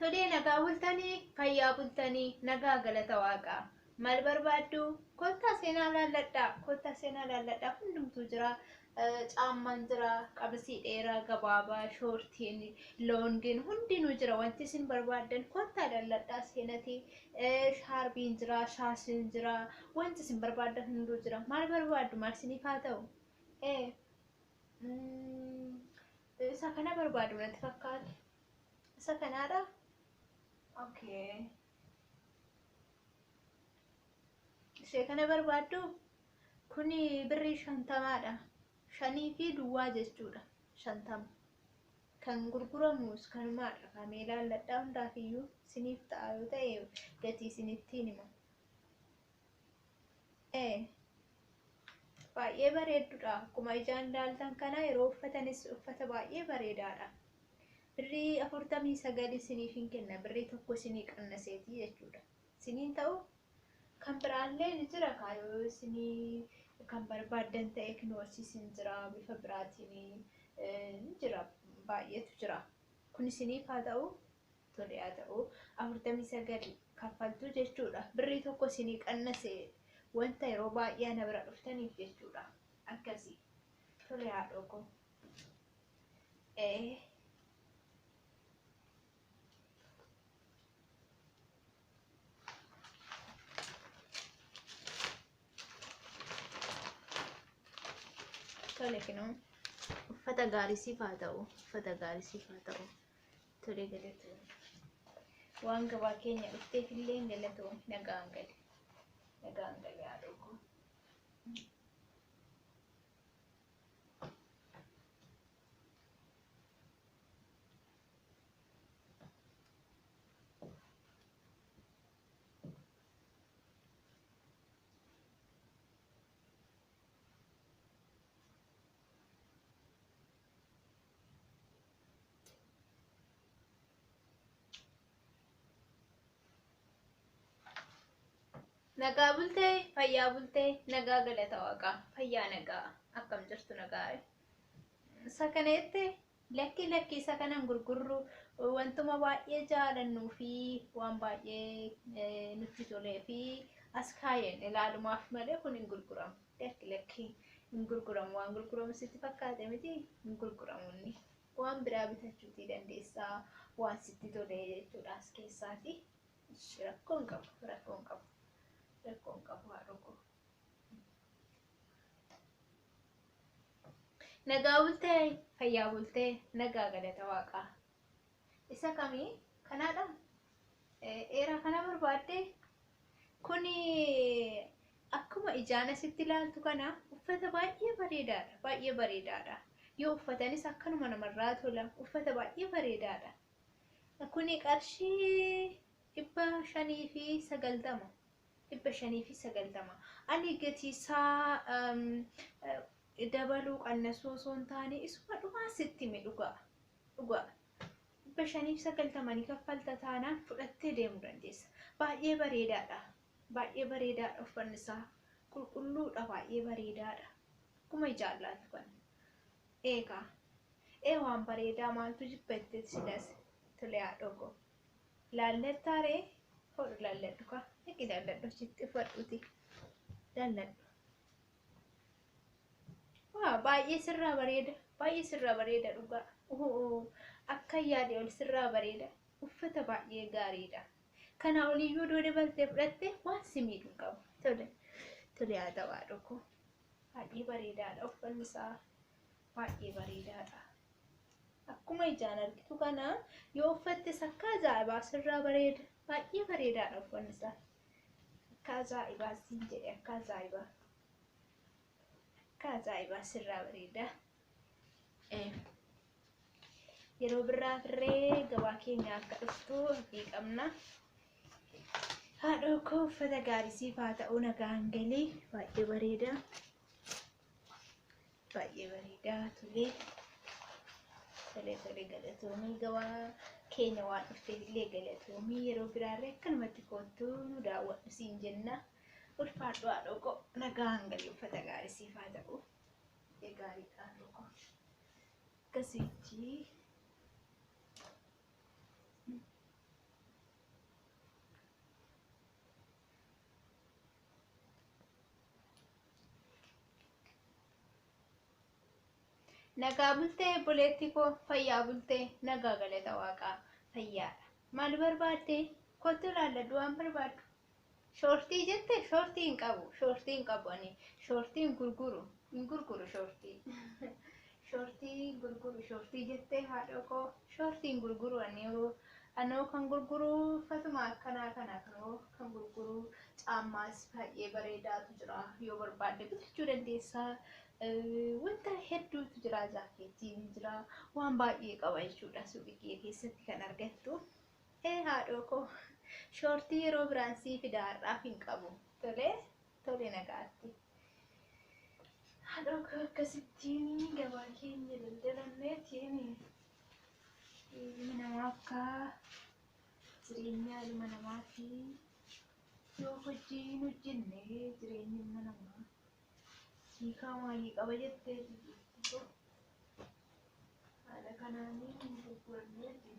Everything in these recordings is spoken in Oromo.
Tolee nagaa bultanii fayyaa bultanii nagaa galata waaqaa maal barbaaddu kottaa seenaa laalladhaa kottaa seenaa laalladhaa hundumtuu jira caammaan jira qabisii dheeraa gabaabaa shoortiin loongiin hundinuu jira wanti isin barbaaddan kottaa laalladhaa seenatii shaarbiin jira shaashiin jira wanti isin barbaaddan hunduu jira maal barbaaddu maal isiniif haa ta'u ee Isa kana barbaadu natti fakkaate. Isa kanaadha. Okay. Ishee kana barbaaddu kuni birrii shantamaadha. Shanii fi duwwaa jechuudha. Shantama. Kan gurguramus kanumaadha. Kamee ilaalladhaa hundaafiyyuu isiniif ta'a yoo ta'e gatii isinitti hima. Baay'ee bareeddudha. Akkuma ijaan ilaaltan kana yeroo uffatanis uffata baay'ee bareedaadha. Birrii afurtamii sagal isiniif hin kenna. Birrii tokko isinii qannaseeti jechuudha. Isiniin ta'u kan biraallee ni jira kaa yoo isinii kan barbaaddan ta'e kinoorsiis hin jira bifa biraatiin ni jira baay'eetu jira. Kun isiniif haa ta'u tole haa ta'u 49 kaffaltuu jechuudha birrii tokko isinii qannase wanta yeroo baay'ee ana bira dhuftaniif jechuudha akkasii tole haadhoo koo ee tole kinoo uffata gaarii siif haa ta'u uffata gaarii siif haa ta'u Tole galatoomi. Waan gabaa keenya dhufteef illee galatoomi. Nagaan gali. Nagaan gali haa dhuguu. Nagaa bultee, fayyaa bultee, nagaa galata waaqaa, fayyaa nagaa akkam jirtu nagaa. Isa kana jette lakki lakki isa kanan gurgurru wantuma baay'ee jaalannuu fi waan baay'ee eh, nutti tolee fi as kaayeen ilaalumaaf malee kun hin gurguramu. Lakki lakki hin gurguramu waan gurguramu sitti fakkaate miti hin gurguramu inni waan biraa bitachuutii dandeessaa waan sitti tolee jechuudha as keessaati ishi rakkoo hin qabu rakkoo hin qabu rakkoo hin qabu haadhokoo. Nagaa bultee fayyaa bultee nagaa galata waaqaa Isa kami? Kanaadha? Dheeraa kana barbaadde? Kuni akkuma ijaan asitti ilaaltu kana uffata baay'ee bareedaadha. Baay'ee bareedaadha. Yoo uffatanis akkanuma namarraa tola. Uffata baay'ee bareedaadha. Kuni qarshii dhibba shanii fi sagaltama. Dhibba shanii fi sagaltama. Ani gatiisaa dabaluu qannasuu osoo hin taane isuma dhumaa sitti hime dhugaa. Dhugaa. 590 ni kaffalta taanaan fudhattee deemuu dandeessa. Baay'ee bareedaadha. Baay'ee bareedaadha uffanni isaa. Qulqulluudha baay'ee bareedaadha. Akkuma ijaan laaltu kana. Eegaa. Ee waan bareedaa maaltu jibba jetteeti silas. Tole haadhoo koo. Laallettaa ree? Hodhu laalladhu kaa. Dhaqi laalladhu achitti uffadhuuti. Laalladhu. Waa baay'ee sirraa bareeda. Baay'ee sirraa bareeda dhugaa. Ohoo akka yaade ol sirraa bareeda. Uffata baay'ee gaariidha. Kanaa oliyyuu doo dabaltee fudhatte waan si miidhu hin qabu. Tole tole haa ta'u haadhoo koo. Baay'ee bareedaadha uffanni isaa. Baay'ee bareedaadha. Akkuma ijaan argitu kana yoo uffattes akka ajaa'ibaa sirraa bareeda. Baay'ee bareedaadha uffanni isaa. Akkaa ajaa'ibaa siin jedhe akkaa ajaa'ibaa. Akkaa ajaa'ibaa sirraa bareedaa. Yeroo birraa firree gabaa keenya akka dhuftu abdii qabna. Haadhoo koo uffata gaarii siif haa ta'u nagaan galii baay'ee bareeda. Baay'ee bareedaa tolee. Tolee tolee galatoomii gabaa keenya waan dhufteef illee galatoomii yeroo biraarree akkanumatti koottuu nu daawwadhu siin jenna. Ulfaadhu haadhoo koo nagaan galii uffata gaarii siif haa ta'u. Ee gaarii haadhoo koo. Akkasitti. Nagaa bultee obboleettii koo fayyaa bultee nagaa galata waaqaa fayyaadha. Maal barbaaddee kottu ilaalladhu waan barbaaddu. Shoortii jette shoortii hin qabu shoortii hin qabu ani shoortii hin gurguru Hin gurguru shortii. Shortii gurguru shortii jettee haadhoo koo shortii hin gurguru aniyuu anoo kan gurguru uffatumaa akkanaa kana kanoo kan gurguru caammaas baay'ee bareedaatu jira yoo barbaadde bitachuu dandeessaa wanta hedduutu jira jaakeettii ni jira waan baay'ee qaba jechuudha suuqii kiyya keessatti kan argattu ee haadhoo koo shortii yeroo biraan sii fidaarraaf hin qabu tolee Tole nagaatti. Haadhoo koo akkasittiin gabaa keenya daldalanneetiin ilmi namaa akka jireenyaa ilma namaa fi yoo hojii hin hojjenne jireenyi ilma namaa hiikaa maalii qaba jettee jirtu. Haala kanaan gurguranneeti.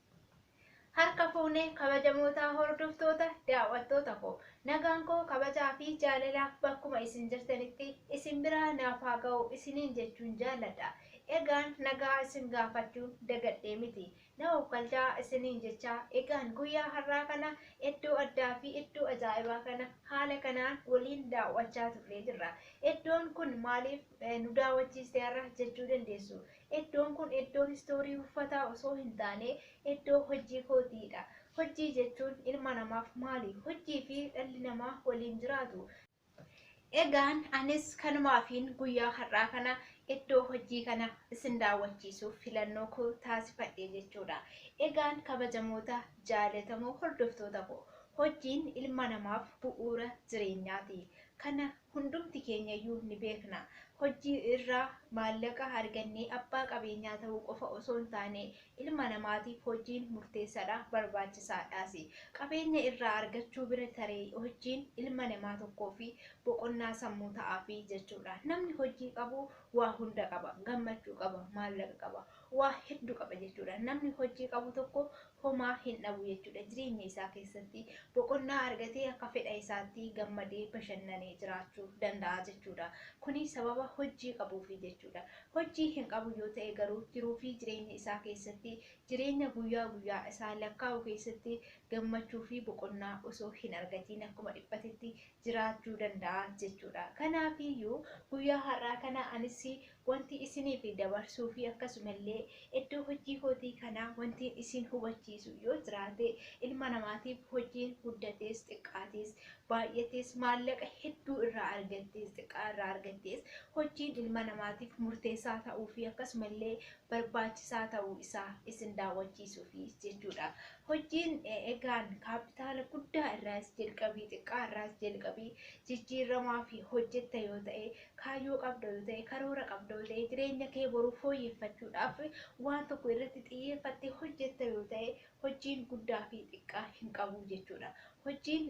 Harka fuune kabajamootaa hordoftoota, daaw'attoota koo. Nagaan koo kabajaa fi jaalalaa bakkuma isin jirtanitti isin biraa naaf haa ga'u isiniin jechuun jaalladha. Egaan nagaa isin gaafachuun dagadhee miti. Na oofkalchaa isiniin jechaa egaan guyyaa har'aa kana eddoo addaa fi eddoo ajaa'ibaa kana haala kanaan waliin daaw'achaa turree jirra. Eddoon kun maaliif nu daaw'achiiste har'a jechuu dandeessu. Eddoon kun eddoo history uffataa osoo hin taane eddoo hojjii kootii dha. Hojjii jechuun ilma namaaf maali? Hojjii fi dhalli namaa waliin jiraatu. Egaan anis kanumaafiin guyyaa har'aa kana eddoo hojjii kana isin daawwachiisuuf filannoo koo taasifadhe jechuu dha. Egaan kabajamoota jaalatamoo hordoftoota koo hojjiin ilma namaaf bu'uura jireenyaa ti. Kana Hundumti keenyayyuu ni beekna. Hojjii irraa maallaqa argannee abbaa qabeenyaa ta'uu qofa osoo hin taane, ilma namaatiif hojjiin murteessadha, barbaachisaadhaasi. Qabeenya irraa argachuu bira taree hojjiin ilma namaa tokkoofi boqonnaa sammuu ta'aafi jechuudha. Namni hojjii qabu waa hunda qaba. Gammachuu qaba, maallaqa qaba, waa heddu qaba jechuudha. Namni hojjii qabu tokko homaa hin dhabu jechuudha. Jireenya isaa keessatti boqonnaa argatee akka fedha isaatti gammadee bashannanee jiraachuu danda'a jechuudha. Kuni sababa hojii qabuufi jechuudha. Hojii hin qabu yoo ta'e garuu jiruu fi jireenya isaa keessatti jireenya guyyaa guyyaa isaa lakkaa'u keessatti gammachuu fi boqonnaa osoo hin argatiin akkuma dhiphatetti jiraachuu danda'a jechuudha. Kanaafiyyuu guyyaa har'aa kana anis Wanti isiniif dabarsuu fi akkasuma illee iddoo hojii kootii kanaa wantiin isin hubachiisu yoo jiraate ilma namaatiif hojiin guddatees xiqqaatees baay'atees maallaqa hedduu irraa argattees xiqqaa irraa argattees hojiin ilma namaatiif murteessaa ta'uu fi akkasuma illee barbaachisaa ta'uu isaa isin daawwachiisuu fi jechuudha. Hojiin egaan kaappitaala guddaa irraas jalqabii xiqqaa irraas jalqabii jijjiiramaa fi hojjetta yoo ta'e Kaayyoo qabda yoo ta'e, karoora qabda yoo ta'e, jireenya kee boru fooyyeffachuudhaaf waan tokko irratti xiyyeeffattee hojjetta yoo ta'e, hojiin guddaa fi xiqqaa hin qabu jechuudha. Hojiin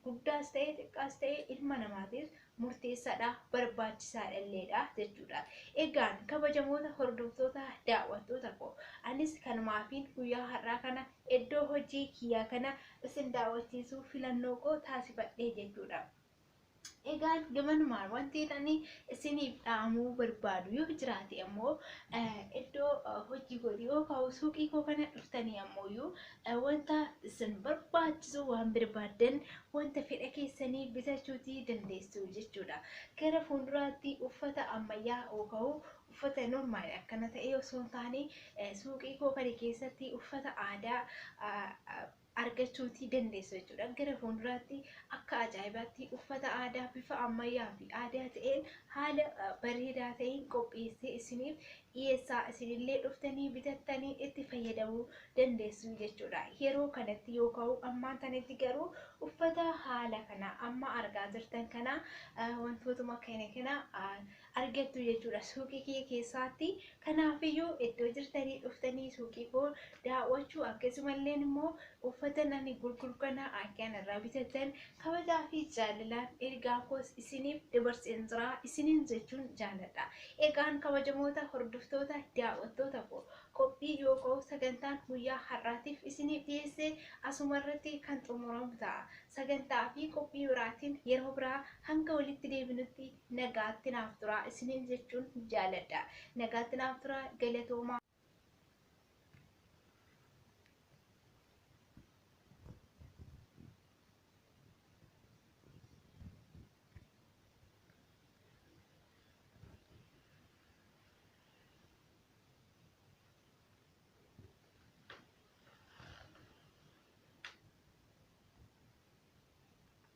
guddaas ta'e xiqqaas ta'e ilma namaatiif murteessaadha, barbaachisaadha illeedha jechuudha. Egaan kabajamoota hordoftoota daawwattoota koo anis kanumaafiin guyyaa har'aa kana iddoo hojii kiyyaa kana isin daawwachiisuu filannoo koo taasifadhee jechuudha. Egaan gamanumaan wanti ani isiniif dhaamuu barbaadu yoo jiraate ammoo iddoo hojii godhi yoo ka'u suuqii koo kana dhuftanii ammooyyuu wanta isin barbaachisu waan barbaaddan wanta fedha keessanii bitachuuti dandeessu jechuudha. Gara fuulduraatti uffata ammayyaa yoo ka'u uffata normaal akkana ta'e osoo hin taane suuqii koo kana keessatti uffata aadaa argachuutii dandeessu jechuudha. Gara fuulduraatti akka ajaa'ibaatti uffata aadaa bifa ammayyaa fi aadaa ta'een haala bareedaa ta'een qopheessee isiniif dhiyeessaa isinillee dhuftanii bitattanii itti fayyadamuu dandeessu jechuudha. Yeroo kanatti yoo ka'u ammaan tanatti garuu uffata haala kana amma argaa jirtan kana wantootuma kana kana argattu jechuudha suuqii kiyya keessaatti kanaafiyyuu iddoo jirtanii dhuftanii suuqii koo daawwachuu akkasumallee immoo uffata ani gurguru kana akka irraa bitattan kabajaa fi jaalalaan ergaa koos isiniif dabarseen jira isiniin jechuun jaaladha egaan kabajamoota hordoftoota daawwattoota koo qophii yookoo sagantaan guyyaa har'aatiif isiniif dhiyeesse asuma irratti kan xumuramu ta'a sagantaa fi qophii biraatiin yeroo biraa hanga walitti deebinutti Nagaatti naaf turaa isiniin jechuun jaaladha. Nagaatti naaf turaa galatoomaa.